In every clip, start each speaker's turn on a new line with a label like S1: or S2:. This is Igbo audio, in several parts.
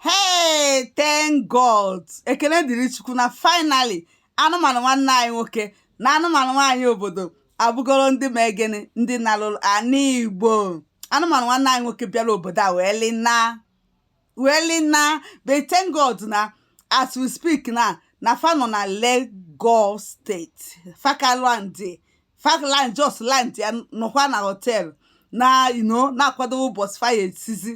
S1: hey thank god ekene dịrị chukwu na finally anụmanụ nwanne anyị nwoke na anụmanụ nwaanyị obodo a bụgoro ndị ma egene ndị naruru ana igbo anụmanụ nwanne anyị nwoke bịara obodo a wee lina wee lina but thank god na as we speak na na fa nọ na Lagos state fa ka land fa ka land just land ya nọkwa na hotel na ino na-akwado ụbọchị fa ya-esizi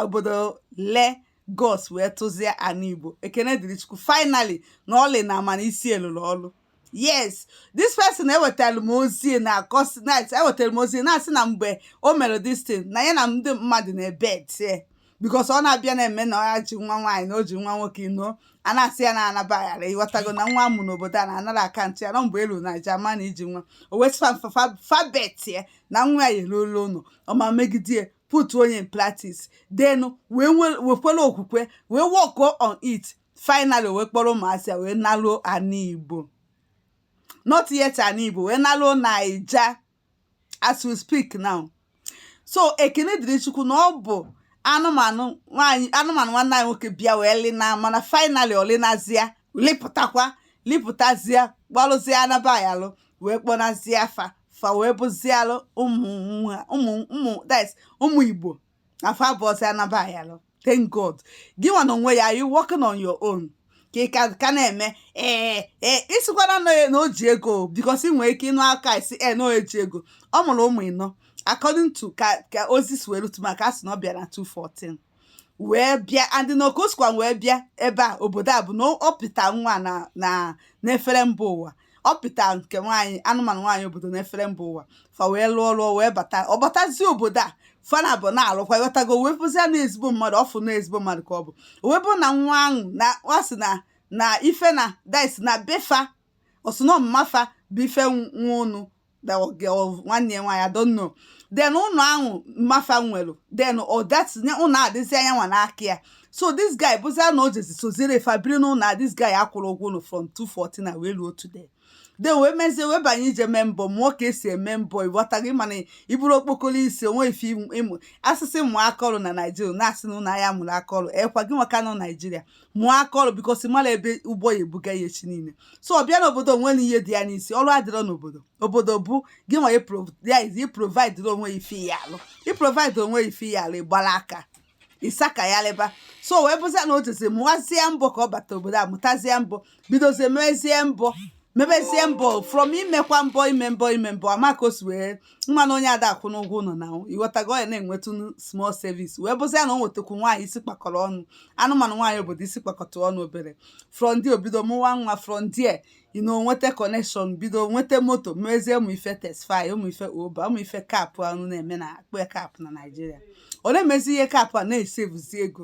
S1: obodo Lagos wee tụzie ana igbo ekene dịrị chukwu finally na o lina mana isi elụrụ ọlụ yes this person wetara m ozi na akọsi night ewetara m ozi na-asị na mgbe o mere this thing na ya na ndị mmadụ na-ebet ya because ọ na-abịa na-eme na ọ ya ji nwa nwaanyị na o ji nwa nwoke ino a na-asị ya na anabaghara ị ghọtago na nwa a mụ n'obodo a na-anara akantị ya na mgbe elu na aja ma na iji nwa o wee sị fa fa bet ya na nwa ya eruola ụlọ ọ ma megidie putinye in practice then wee nwekwere okwukwe wee work on it finally wee kpọrọ ụmụazị ya wee naruo ana igbo not yet ana igbo wee naruo naija as we speak now so ekene dịrị chukwu na ọ bụ anụmanụ nwaanyị anụmanụ nwanne anyị nwoke bịa wee lina mana finally o linazia lipụtakwa lipụtazie kpọlụzie anaba ya alụ wee kpọnazie fa fa wee bụzialụ ụmụ nwa ụmụ ụmụ that's ụmụ igbo fa bụzi anaba ya alụ thank god gị nwa na onwe gị you working on your own ka ị ka ka na-eme ee ee ị sịkwana na na o ji ego because i nwere ike ịnụ aka isi e na o ji ego ọ mụrụ ụmụ ịnọ according to ka ka ozi si wee lute m aka a sị na ọ bịara 214 wee bịa and na ọ ka o sikwa wee bịa ebe a obodo a bụ na ọ pịta nwa na na n'efere mba ụwa ọ pịta nke nwaanyị anụmanụ nwaanyị obodo n'efere mba ụwa fa wee lụọ lụọ wee bata ọ batazie obodo a fa naabọ na-alụkwa ị ghọtago wee bụzie na ezigbo mmadụ ọ fụ na ezigbo mmadụ ka ọ bụ wee bụ na nwa ahụ na ọ sị na na ife na dịsị na be fa ọ sọ ụnọ mma fa bụ ife nwa ụnụ nwanne ya nwaanyị I don't know then ụlọ ahụ mma fa nwere then at that time ụlọ a dịzi ya nwa n'aka so this guy bụzia na o jezi sozire fa biri n'ụlọ a this guy akwụrọ ụgwọ ụlọ from 214 na wee ruo today then wee mezie wee banye ije mee mbọ mụọ ka e si eme mbọ ị ghọtago mana i buru okpokoro isi o nwe ife ị mụ a sị gị mụọ aka ọrụ na naijiria na-asị na ụlọ ahịa mụrụ aka ọrụ ekwa gị nwa ka nọ naijiria mụọ aka ọrụ because ị marọ ebe ụgbọ ya-ebuga gị echi niile so ọ bịa n'obodo o nwerọ ihe dị ya n'isi ọrụ adịrọ n'obodo obodo bụ gị nwa iprovidere onwe gị ife ị ya-alụ iprovidere onwe gị ife ị ya-alụ ị gbara aka ịsaka ya leba so wee bụzia na o jezi mụwazie mbọ ka ọ bata obodo a mụtazie mbọ bidozie mezie mbọ mebezie mbọ from imekwa mbọ ime mbọ ime mbọ amaka o si wee nwa na onye ada akwụ n'ụgwọ ụlọ na ighọtago ya na-enwetụ small savings wee bụzi ya na o nwetakwu nwaanyị isi kpakọrọ ọnụ anụmanụ nwaanyị obodo isi kpakọta ọnụ obere from there o bido mụwa nwa from there ọ nọ nweta connection bido nweta moto mezie ụmụ ife Taxify ụmụ ife Uber ụmụ ife cab anyị na-eme na-akpọ cab na naijiria ọ na-emezi ihe cab a na-esevuzi ego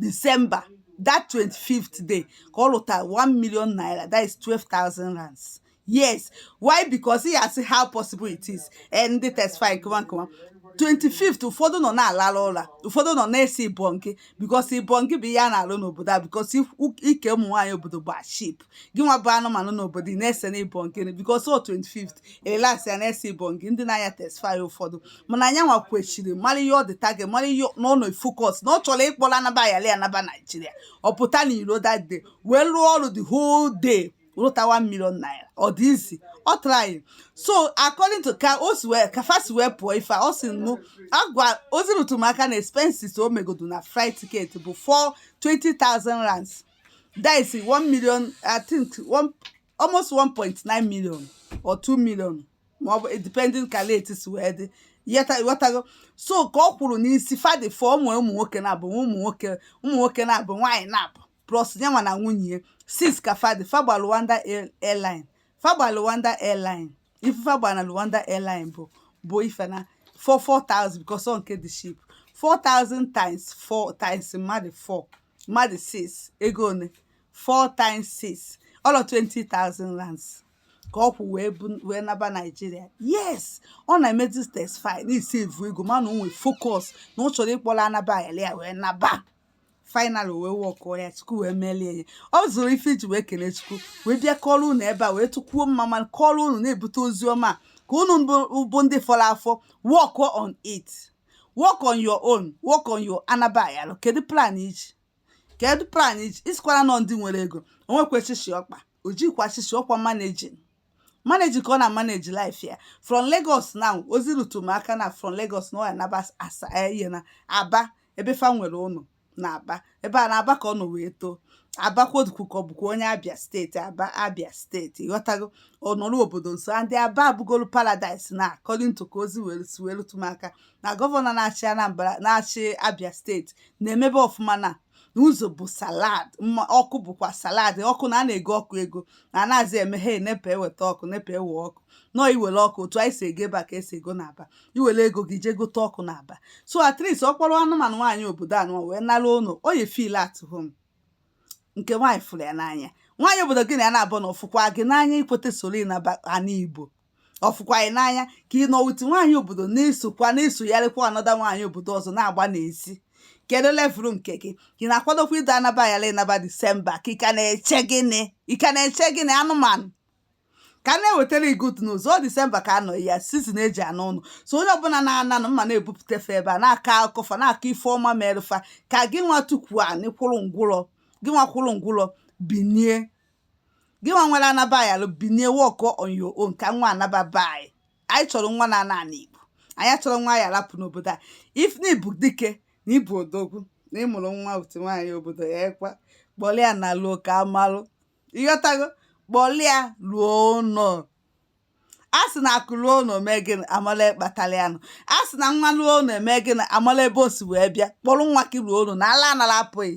S1: December that 25th day ka ọ lụtara 1 million naira that is 12,000 rands yes why because ị ya-asị how possible it is eh, ndị Taxify nkewa nkewa 25th ụfọdụ nọ na-alalụ ụla ụfọdụ nọ na-esi ibonke because ibonke bụ ihe a na-alụ n'obodo a because ike ụmụ nwaanyị obodo bụ cheap gị nwa bụ anụmanụ n'obodo ị na-ese na ibonke because 250 rands ya na-ese ibonke ndị na-anya Taxify ụfọdụ mana ya nwa kwechiri mara ihe ọ dị target mara ihe na ọ nọ focus na ọ chọrọ ịkpọrọ anaba ayali anaba naijiria ọ pụta na iro that day wee rụọ ọrụ the whole day rụta 1 million naira ọ dị easy ọ tryghị so according to ka o si wee ka fa si wee pụọ ife a ọ si mụ agwa ozi rụtụrụ m aka na expenses o megodo na flight ticket bụ 4 20,000 rands that is 1 million i think one, almost 1.9 million or 2 million ma ọ bụ depending ka rate si wee dị ghọtago so ka ọ kwuru n'isi fa dị 4 ụmụ ụmụ nwoke naabọ ụmụ nwoke ụmụ nwoke naabọ nwaanyị naabọ plus ya nwa na nwunye 6 ka fa dị fa gba Luanda airline fa gba Luanda airline ife fa gba na Luanda airline bụ bụ ife na 4 4000 because ọ nke dị cheap 4000 times 4 times mmadụ 4 mmadụ 6 ego one 4 times 6 all of 20,000 rands ka ọ kwụ wee bu wee naba naijiria yes ọ na-emezi Taxify na-esevu ego mana o nwee focus na ọ chọrọ ịkpọrọ anaba ayala ya wee naba final wee wọkụọ ya chukwu wee meelụ ya ọ zụrụ ife iji wee kelee chukwu wee bịa kọrọ unu ebe a wee tụkwuo mmamma kọrọ unu na-ebute ozi ọma ka unu bụ ndị fọrọ afọ wọkụọ on it work on your own work on your anaba ayalụ kedu plan i ji kedu plan i ji ị sịkwara na ọ ndị nwere ego o nwekwa shishi ọkpa o jikwa shishi ọkwa managing managing ka ọ na manage life ya from Lagos now ozi rutu m aka na from Lagos na ọ ya naba asa ihe na aba ebe fa nwere ụlọ na aba ebe a na aba ka ọ nọ wee too aba ka ọ dịkwu ka ọ bụkwa onye abịa steeti aba abịa steeti ịghọtago ọ nọrọ obodo nso and aba abụgolu paradise na according to ka ozi were si wee rụtụ m aka na gọvanọ na-achị anambra na-achị abịa steeti na-emebe ọfụma na n'ụzọ bụ salad mma ọkụ bụkwa salad ọkụ na a na-ego ọkụ ego na a nazị eme he nepa eweta ọkụ nepa ewe ọkụ nọ iwere ọkụ otu anyị si ego ebe a ka e si ego na aba i were ego gị jee gote ọkụ na aba so at least ọ kpọrọ anụmanụ nwaanyị obodo anụ wee naruo ụlọ ọ ya feel at home nke nwaanyị fụrụ ya n'anya nwaanyị obodo gị na ya na-abụ na ọ fụkwa gị n'anya ọ kweta soro naa ana igbo ọ fụkwa gị n'anya ka ị nọ with nwaanyị obodo na-esokwa na-esogharịkwa another nwaanyị obodo ọzọ na-agba n'ezi kedu level nke gị ị na-akwadokwa ịda anaba yala ịnaba december ka ị ka na-eche gịnị ị ka na-eche gịnị anụmanụ ka a na-ewetara gị good news ọ december ka a nọ ya season e ji ana ụnọ so onye ọbụla na-ananụ mma na-ebupụta fa ebe a na-akọ akụkọ fa na-akọ ife ọma mere fa ka gị nwa tukwu anị kwụrụ ngwụrọ gị nwa kwụrụ ngwụrọ binie gị nwa nwere anaba yalụ binie work on your own ka nwa naba be anyị anyị chọrọ nwa na ana ana igbo anyị achọrọ nwa ya rapụ n'obodo a if na ị bụ dike na ị bụ odogwu na ị mụrụ nwa otu nwaanyị obodo ya ekwa kpọrọ ya naluo ka a malụ ị ghọtago kpọlụ ya luo ụnọ a sị na akụ luo ụnọ mee gịnị a mala kpatalụ ya nụ a sị na nwa luo ụnọ e mee gịnị a mala ebe o si wee bịa kpọlụ nwa gị luo ụnọ na ala anara apụ gị